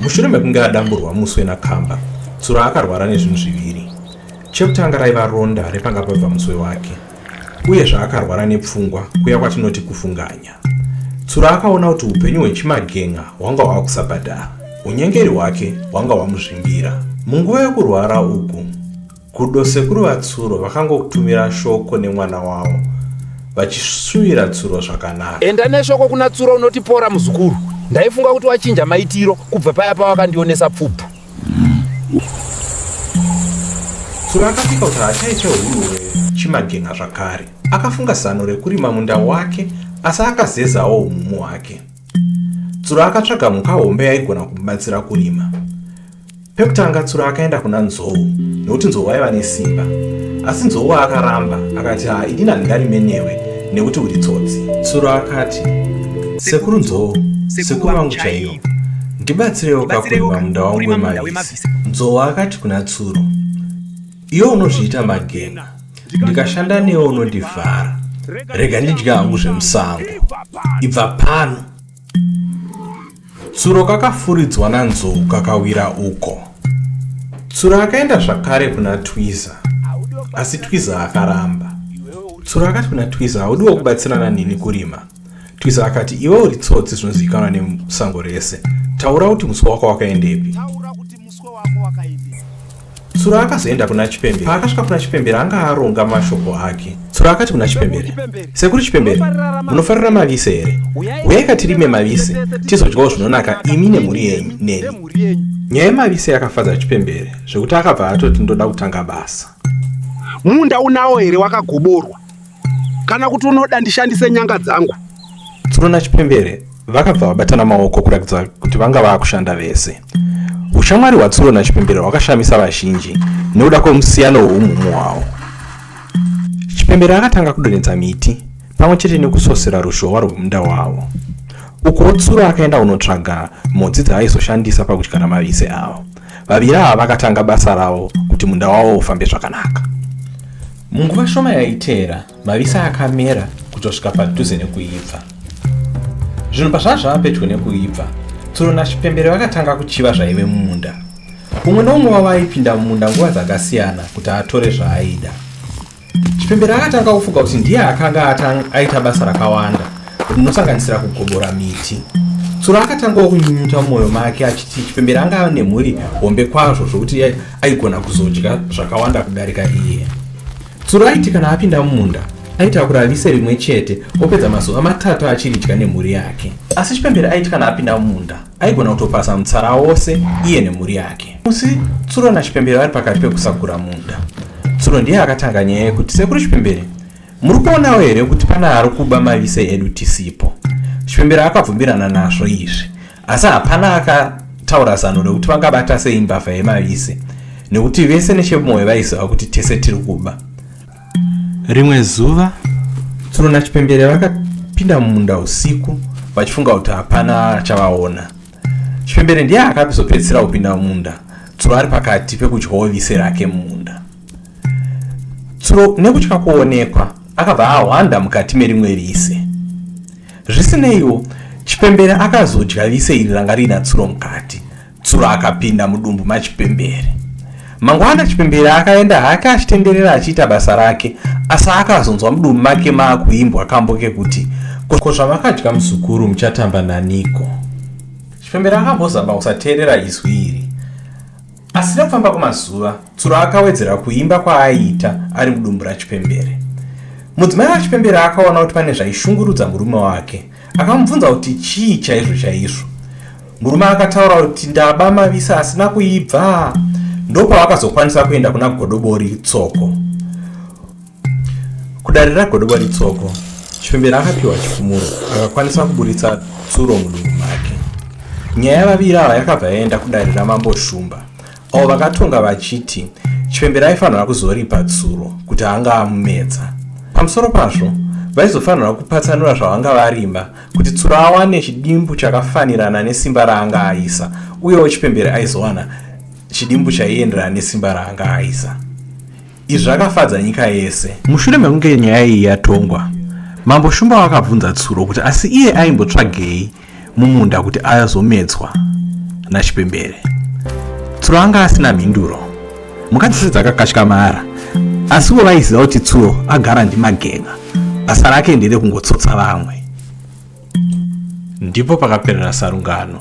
Mushure mekunge adamburwa muswe nakamba, Tsuro akarwara nezvinhu zviviri. Chekutanga raiva ronda repanga pabva muswe wake, uye zvaakarwara nepfungwa kuya kwatinoti kufunganya. Tsuro akaona kuti upenyu hwechimagen'a hwanga hwava kusabhadhara, unyengeri hwake hwanga hwamuzvimbira. Munguva yokurwara uku, Gudo sekuru vatsuro vakangokutumira shoko nemwana wavo vachishuvira tsuro zvakanaka. Enda neshoko kuna tsuro unotipora muzukuru. Ndaifunga kuti wachinja maitiro kubva paya pawakandionesa pfubvu. Tsuro akasvika kuti haachaite huruwe chimagenga zvakare. Akafunga zano rekurima munda wake asi akazezawo umumu hwake. Tsuro akatsvaga mhuka hombe yaigona kumubatsira kurima. Pekutanga Tsuro akaenda kuna Nzou nekuti Nzou aiva nesimba asi Nzou akaramba akati haa ini handingarime newe nekuti uri tsotsi. Tsuro akati sekuru Nzou sekuru vangu chaiyo ndibatsirewo kakurima munda wangu wemavisi. Nzou akati kuna Tsuro iwe unozviita magena ndikashanda newe unondivhara rega ndidya hangu zvemusango ibva pano. Tsuro kakafuridzwa nanzou kakawira uko. Tsuro akaenda zvakare kuna Twiza, asi Twiza akaramba. Tsuro akati kuna Twiza, haudiwo kubatsirana neni kurima. Twiza akati, iwe uri tsotsi zvinozivikanwa nesango rese. Taura kuti muswe wako wakaendepi? Tsuro akazoenda kuna Chipembere. Paakasvika kuna Chipembere anga aronga mashoko ake. Tsuro akati kuna Chipembere, Sekuru Chipembere, munofarira mavise here? Huyai katirime mavise, tizodyawo zvinonaka imi nemhuri yenyu neni. Nyaya yemavise yakafadza Chipembere zvekuti akabva atoti ndoda kutanga basa. Munda unawo here wakagoborwa? kana kuti unoda ndishandise nyanga dzangu tsuro nachipembere vakabva vabatana maoko kuratidza kuti vanga vava kushanda vese ushamwari hwatsuro nachipembere hwakashamisa vazhinji nekuda kwemusiyano hweumhumu hwawo chipembere akatanga kudonhedza miti pamwe chete nekusosera ruzhowa rwemunda wavo ukuwo tsuro akaenda kunotsvaga mhodzi dzaaizoshandisa pakudyara mavise avo Vaviri ava vakatanga basa ravo kuti munda wavo ufambe zvakanaka. Munguva shoma yaiteera, mavisi akamera kutosvika padhuze nekuibva. Zvinhu pazvazvava pedyo nekuibva, Tsuro naChipembere vakatanga kuchiva zvaive mumunda. Umwe noumwe wavo aipinda mumunda nguva dzakasiyana kuti atore zvaaida. Chipembera akatanga kufunga kuti ndiye akanga atanga aita basa rakawanda rinosanganisira kugobora miti. Tsura akatangawo kunyunyuta mumwoyo make achiti Chipembera anga ane mhuri hombe kwazvo zvokuti aigona kuzodya zvakawanda kudarika iye. Tsura aiti kana apinda mumunda aitakura vise rimwe chete opedza mazuva matatu achiridya nemhuri yake. Asi Chipembera aiti kana apinda mumunda aigona kutopasa mutsara wose iye nemhuri yake musi tsuro nachipembere vari pakati pekusagura munda tsuro ndiye akatanga nyaya yekuti sekuru chipembere muri kuonawo here kuti pane ari kuba mavise edu tisipo chipembere akabvumirana nazvo izvi asi hapana akataura zano rekuti vangabata sei mbavha yemavise nekuti vese nechemwoyo vaiziva kuti tese tiri kuba rimwe zuva tsuro nachipembere vakapinda mumunda usiku vachifunga kuti hapana chavaona chipembere ndiye akazopedzisira kupinda mumunda tsuro ari pakati pekudyawo vise rake mumunda tsuro nekutya kuonekwa akabva ahwanda mukati merimwe vise zvisineiwo chipembere akazodya vise iri ranga riina tsuro mukati tsuro akapinda mudumbu machipembere mangwana chipembere akaenda hake achitenderera achiita basa rake asi akazonzwa mudumbu make maakuimbwa kambo kekuti ko zvavakadya muzukuru muchatamba naniko chipembere akambozama kusateerera izwi iri asi nekufamba kwemazuva tsuro akawedzera kuimba kwaaiita ari mudumbu rachipembere mudzimai wachipembere akaona kuti pane zvaishungurudza murume wake Akamubvunza kuti chii chaizvo chaizvo. Murume akataura kuti ndaba mavisa asina kuibva. Ndopaakazokwanisa kuenda kuna Godobori Tsoko. Kudare raGodobori Tsoko, Chipembera akapiwa chifumuro akakwanisa kuburitsa tsuro mudumbu make. Nyaya yavaviri ava yakabva yaenda kudare raMambo Shumba. avo vakatonga vachiti chipembera aifanira kuzoripa tsuro kuti anga amumedza pamusoro pazvo vaizofanira kupatsanura zvavanga varima kuti tsuro awane chidimbu chakafanirana nesimba raanga aisa uyewo chipembere aizowana chidimbu chaienderana nesimba raanga aisa izvi zvakafadza nyika yese mushure mekunge nyaya iyi yatongwa mambo shumba vakabvunza tsuro kuti asi iye aimbotsvagei mumunda kuti azomedzwa nachipembere tsuro anga asina mhinduro mukadzi sedzi akakashika maara asiwo vaiziva kuti tsuro agara ndimagenga basa rake ndere kungotsotsa vamwe ndipo pakaperera sarungano